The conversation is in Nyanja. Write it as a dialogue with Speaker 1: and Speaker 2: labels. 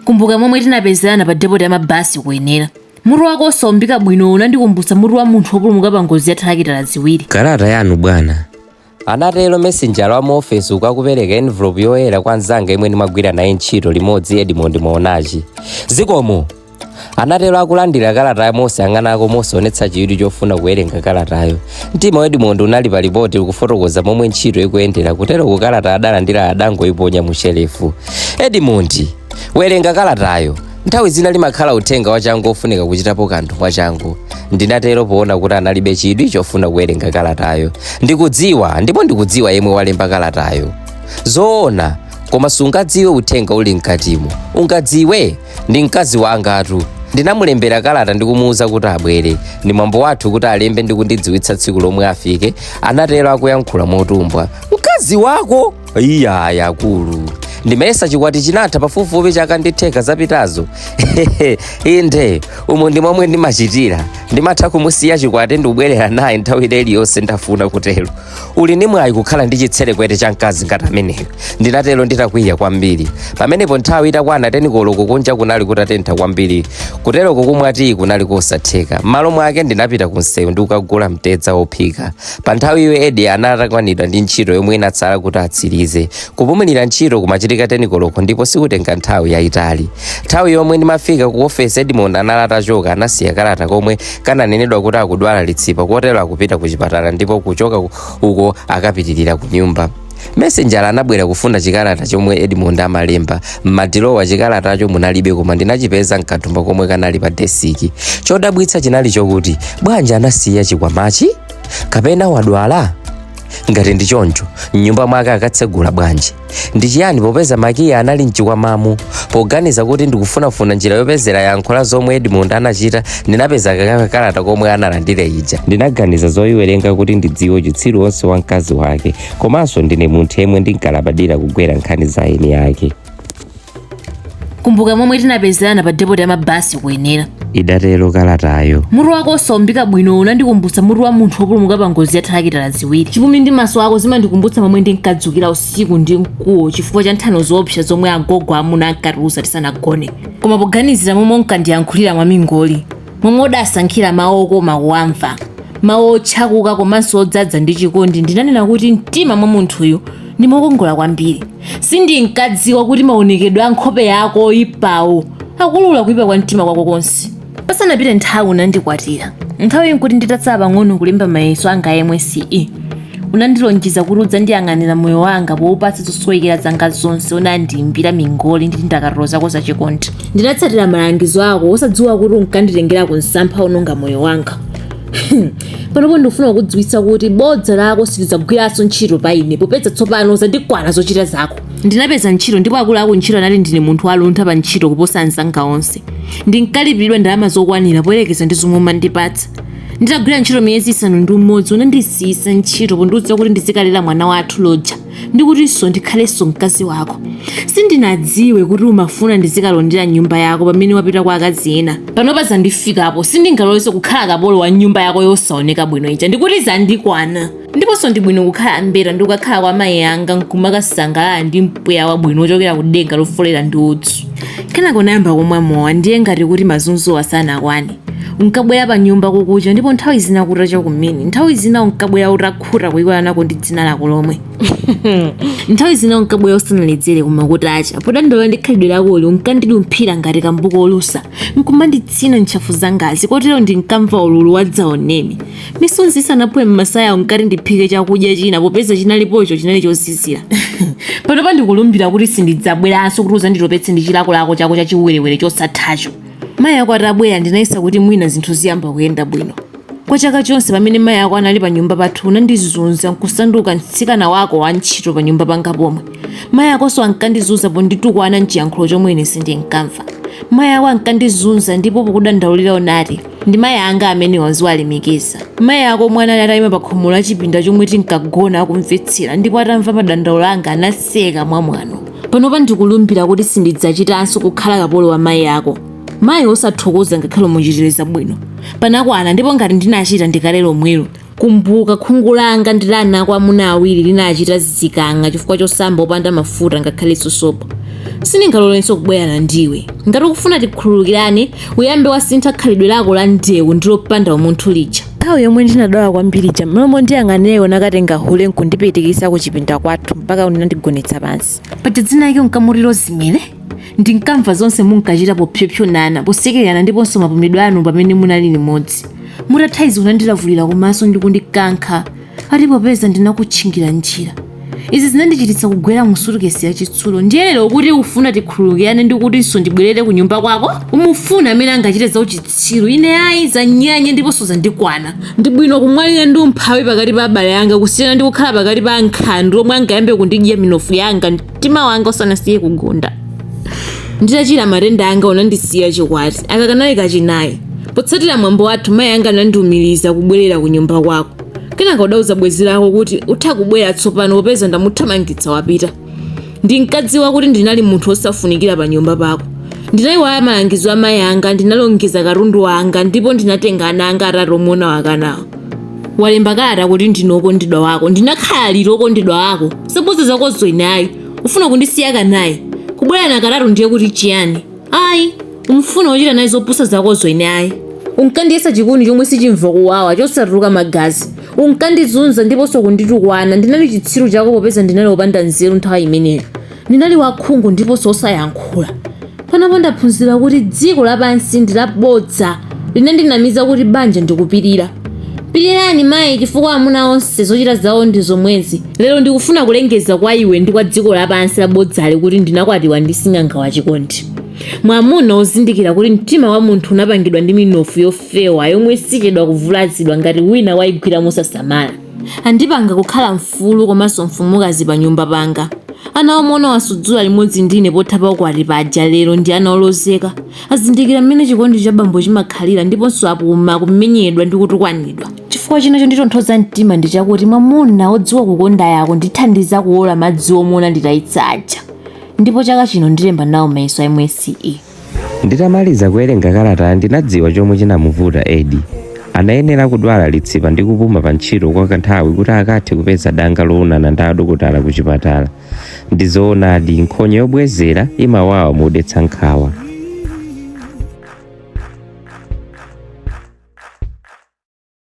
Speaker 1: kumbuka momwe tinapezerana pa depoti ya mabasi ku Yenera mutu wako osaumbika bwino unandikumbutsa mutu wa munthu wopulumuka pa ngozi ya thalakitala ziwiri kalata yanu
Speaker 2: bwana anatero mesenjala wa mu ofesi uku akupereka envelopu yoyera kwa mzanga yemwe ndimagwira naye ntchito limodzi edmond Maonachi zikomo anatero akulandira kalatayo mosayang'anako mosaonetsa chidwi chofuna kuwerenga kalatayo mtima wa edmond unali pa lipoti kufotokoza momwe ntchito ikuyendera kuteroku kalata adalandira adangoiponya mu shelefu edmond werenga kalatayo nthawi zina limakhala uthenga wachangu ofunika kuchitapo kanthu mwachangu ndinatero poona kuti analibe chidwi chofuna kuwerenga kalatayo ndikudziwa ndipo ndikudziwa yemwe walemba kalatayo zoona koma sungadziwe uthenga uli mkatimo ungadziwe ndi mkazi wangatu ndinamulembera kalata ndi kumuwuza kuti abwere ndi mwambo wathu kuti alembe ndi kundidziwitsa tsiku lomwe afike anatero akuyankhula motumbwa mkazi wako iyayi akulu ndimayesa chikwati chinatha pafupifupi chaka ndi theka zapitazo inde umo ndi momwe ndimachitira ndimatha kumusiya chikwati ndikubwererana naye nthawi iliyonse ndafuna kutero uli ndi mwayi kukhala ndi chitserekwete cha mkazi ngati ameneyo ndinatero nditakwiya kwambiri pamenepo nthawi itakwana tenikoloko kunja kunali kutatentha kwambiri kuteroku kumwa tiyi kunali kosatheka m'malo mwake ndinapita ku msewu ndi kukagula mtedza wophika pa nthawi iyo edi anali atakwanidwa ndi ntchito yomwe inatsala kuti atsirize kupumulira ntchito kumachitika tenikoloko ndipo sikutenga nthawi yayitali nthawi yomwe ndimafika ku ofesi edmond anali atachoka anasiya kakalata komwe kananenedwa kuti akudwala litsipa kotero akupita ku chipatala ndipo kuchoka uko akapitirira ku nyumba mesenjala anabwera kufuna chikalata chomwe edmond amalemba m'madilowa chikalatacho munalibe koma ndinachipeza mkathumba komwe kanali pa desiki chodabwitsa chinali chokuti bwanji anasiya chikwamachi kapena wadwala ngati ndi choncho mnyumba mwake akatsegula bwanji ndi chiyani popeza makiyi anali mchikwamamu poganiza kuti ndikufunafuna njira yopezera yankho la zomwe edmond anachita ndinapeza kakalata komwe analandira ija ndinaganiza zoyiwerenga kuti ndidziwe uchitsiru wonse wa mkazi wake komanso ndine munthu yemwe ndinkalabadira kugwera nkhani za eni ake
Speaker 1: kumbuka momwe tinapezerana pa depoti ya mabasi ku Yenera
Speaker 2: idatero kalatayo mutu wako osaumbika
Speaker 1: bwino unandikumbutsa mutu wa munthu wopulumuka pa ngozi ya thalakitala ziwiri chipumi ndi maso ako zimandikumbutsa momwe ndinkadzukira usiku ndi mkuwo chifukwa cha nthano zoopsa zomwe agogo amuna ankatiuza tisanagone koma poganizira momwe unkandiyankhulira mwamingoli momwe udasankhira mawu okoma kuwamva mawu otchakuka komanso odzadza ndi chikondi ndinanena kuti mtima mwa munthuyu ndi mokongola kwambiri sindinkadziwa kuti maonekedwe a nkhope yako oyipawo akuulula kuyipa kwa mtima kwako konse pasanapite nthawi unandikwatira nthawi nkuti nditatsala pang'ono kulemba mayeso anga a MSCE Unandilonjeza kuti udzandiyang'anira moyo wanga poupatsa zosowekera zanga zonse. Unandiimbira mingoli ndi ndakatulo zako zachikondi. Ndinatsatira malangizo ako, osadziwa kuti unkanditengera ku msampha wononga moyo wanga. Panopo ndikufuna kukudziwitsa kuti bodza lako silidzagwiranso ntchito pa ine, popeza tsopano zandikwana zochita zako. Ndinapeza ntchito, ndipo akulu akuntchito anati ndine munthu waluntha pa ntchito kuposa anzanga onse. Ndinkalipiridwa ndalama zokwanira poyerekeza ndi zomwe umandipatsa. nditagwira ntchito miyezi isanu ndi umodzi unandisiyisa ntchito pondiuza kuti ndizikalera mwana wathu loja ndi kutinso ndikhalenso mkazi wako sindinadziwe kuti umafuna ndizikalondera nyumba yako pamene wapita kwa akazi ena panopa zandifikapo sindingalolenso kukhala kapolo wa nyumba yako yosaoneka bwino ija ndikuti zandikwana ndiponso ndi bwino kukhala mbeta ndi kukakhala kwa mayi anga nkumakasangalala ndi mpweya wabwino wochokera ku denga lofolera ndi udzu kenako nayamba kumwa mowa ndiye ngati kuti mazunzowa sanakwane unkabwera pa nyumba kukucha ndipo nthawi zina kutacha kumene nthawi zina unkabwera utakhuta kuyiwala nako ndi dzina lako lomwe nthawi zina unkabwera usanaledzere koma kutacha podandaula ndi khalidwe lakoli unkandidumphira ngati kambuku olusa nkumanditsina ntchafu zangazi kotero ndinkamva ululu wadzaoneni misonzi isanaphwe m'masaya unkati ndiphike chakudya china popeza chinalipocho chinali chozizira panopa ndikulumbira kuti sindidzabweranso kuti uzanditopetse ndi chilakolako chako cha chiwerewere chosathacho mayi ako atabwera ndinayesa kuti mwina zinthu ziyamba kuyenda bwino kwa chaka chonse pamene mayi ako anali pa nyumba pathu unandizunza nkusanduka mtsikana wako wa ntchito pa nyumba panga pomwe mayi akonso ankandizunza ponditukwana mchiyankhulo chomwe ine sindinkamva mayi ako ankandizunza ndipo pokudandaulira unati Ndi mayi anga amenewa uziwalemekeza. Mayi ako omwe anali atayima pakhomo la chipinda chomwe tinkagona akumvetsera ndipo atamva madandaulo anga anaseka mwamwano. Panopa ndikulumbira kuti sindidzachitanso kukhala kapolo wa mayi ako. Mayi wosathokoza ngakhale umuchitire zabwino. Panakwana ndipo ngati ndinachita ndi kale lomwelo. kumbuka khungu langa ndi la ana ako amuna awiri linachita zikang'a chifukwa chosamba opanda mafuta ngakhalenso sopo sindingalolenso kubwerana ndiwe ngati ukufuna tikhululukirane uyambe wasintha khalidwe lako la ndewu ndi lopanda umunthu lija nthawi yomwe ndinadwala kwambiri ija m'malo mondiyang'anira unakatenga hule nkundipitikisa ku chipinda kwathu mpaka unandigonetsa pansi paja dzina lake unkamuti Rozi mene Ndinkamva zonse munkachita popsopsonana, posekererana ndiponso mapumidwe anu pamene munali limodzi. Mutatha izi unandilavulira kumaso ndi kundikankha ati popeza ndinakutchingira njira. Izi zinandichititsa kugwera mu sutukesi yachitsulo. Ndiye lero ukuti ufuna tikhululukirane ndi kutinso ndibwerere kunyumba kwako? Umufuna amene angachite zauchitsiru. Ine ayi, zanyanya ndiponso zandikwana. Ndi bwino kumwalira ndi umphawi pakati pa abale anga kusiyana ndi kukhala pakati pa ankhandwe omwe angayambe kundidya minofu yanga. mtima wanga usanasiye kugunda nditachira matenda anga unandisiya chikwati aka kanali kachinayi potsatira mwambo wathu mayi anga anandiumiriza kubwerera ku nyumba kwako kenaka udauza bwenzi lako kuti utha kubwera tsopano popeza ndamuthamangitsa wapita ndinkadziwa kuti ndinali munthu wosafunikira pa nyumba pako ndinayiwala malangizo a mayi anga ndinalongeza katundu wanga ndipo ndinatenga ana anga atatu omwe unawakanawo walemba kalata kuti ndine okondedwa wako ndinakhala liti okondedwa wako zopusa zakozo ine ayi ufuna kundisiya kanayi kubwera na kalata ndiye kuti chiyani ayi umfuna wochita naye zopusa zakozo ine ayi unkandiyesa chikuni chomwe sichimva kuwawa chosatuluka magazi unkandizunza ndiponso kunditukwana ndinali chitsiru chako popeza ndinali opanda nzeru nthawi imeneyo Ndinali wakhungu ndiponso wosayankhula. Panopa ndaphunzira kuti dziko lapansi ndi labodza linandinamiza kuti banja ndi kupirira. Pirirani mayi chifukwa amuna onse zochita zawo ndi zomwezi. Lero ndikufuna kulengeza kwa iwe ndi kwa dziko lapansi labodzali kuti ndinakwatiwa ndi sing'anga wachikondi. Mwamuna wozindikira kuti mtima wa munthu unapangidwa ndi minofu yofewa yomwe sichedwa kuvulazidwa ngati wina waigwira mosasamala. Andipanga kukhala mfulu komanso mfumukazi panyumba panga. Ana omwe unawasudzula limodzi ndi ine pothapa ukwati paja lero ndi ana olozeka. Azindikira mmene chikondi cha bambo chimakhalira ndiponso apuma kumenyedwa ndi kutukwanidwa. Chifukwa china chonditonthoza mtima ndi chakuti mwamuna wodziwa kukondayo akundithandiza kuwola madzi omwe unanditayitsa aja ndipo chaka chino ndilemba nawo mayeso a MSCE. Nditamaliza
Speaker 2: kuwerenga kalatayi ndinadziwa chomwe chinamuvuta Eddie. Anayenera kudwala litsipa ndi kupuma pa ntchito kwa kanthawi kuti akathe kupeza danga loonana ndi adokotala ku chipatala. Ndi zoonadi, nkhonya yobwezera imawawa modetsa nkhawa.